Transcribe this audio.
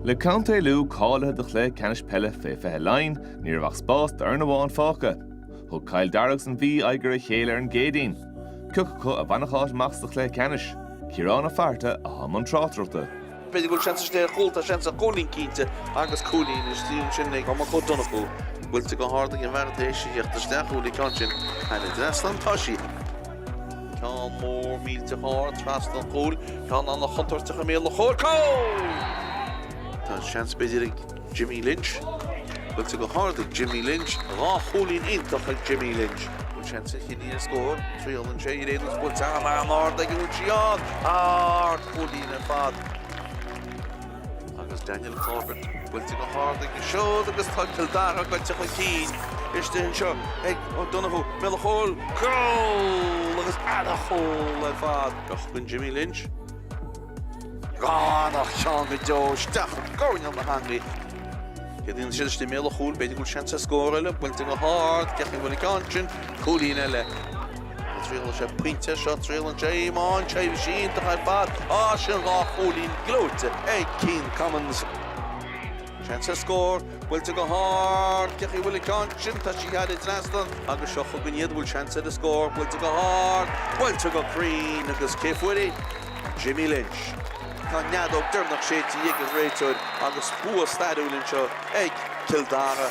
Le Contae Lú cáilithe do chluiche ceannais peile fé 20 Laighean, ní raibh ach spás d'fhoireann amháin fágtha. Thug Cill Dara agus an Mhí aghaidh ar a chéile ar an gCéadaoin. Cé acu a bhainfeadh áit amach sa chluiche ceannais, Ciarán Ó Fátharta atá i mbun tráchtaireachta. B'fhéidir go bhfuil seans istigh ar chúl, tá seans ar chúilín cinnte agus cúilín istigh ansin ag Cormac Ó Donnchú. Buailte go hard ag an bhfear tar éis a theacht isteach, an bhfuil an ceann sin thar an trasnán, tá sí. Ceann mór millteach ard trasna an chúil, ceann an-chontúirteach i mbéal an chúil. Cúl! Tá seans b'fhéidir ag Jimmy Lynch. Buailte go hard ag Jimmy Lynch. Dhá chúilín iontach ag Jimmy Lynch. Bhfuil seans ag Chiarraí ar scór? Triaileann sé í arís agus buailte an-ard ag an bhfuil sí ann! Ardchúilín ar fad. Agus Daniel Corbett buailte go hard aige siúd agus tá Cill Dara goidte chun cinn. Istigh anseo ag O'Donoghue, i mbéal an chúil, cúl! Agus an-chúl ar fad. Bheadh chun Jimmy Lynch. An-cheann go deo isteach i gcoirnéal na heangaí. Cé dtíon siad istigh i mbéal an chúil, b'fhéidir go bhfuil seans ar scór eile, buailte go hard, ceapaim go bhfuil an ceann sin, cúilín eile. An dtriaileann sé pointe? Seo, triaileann sé í. Maíonn sé go bhfuil sí iontach ar fad. Á, sin dhá chúilín gleoite ag Cian Commins. Seans ar scór, buailte go hard, ceapaim go bhfuil an ceann sin, tá sí thar an trasnán agus seo chugainn iad, an bhfuil seans ar an scór, buailte go hard, buailte go cruinn agus cé a fuair í? Jimmy Lynch. Tá an fheadóg dheireanach séidte ag an réiteoir agus bua stairiúil anseo ag Cill Dara.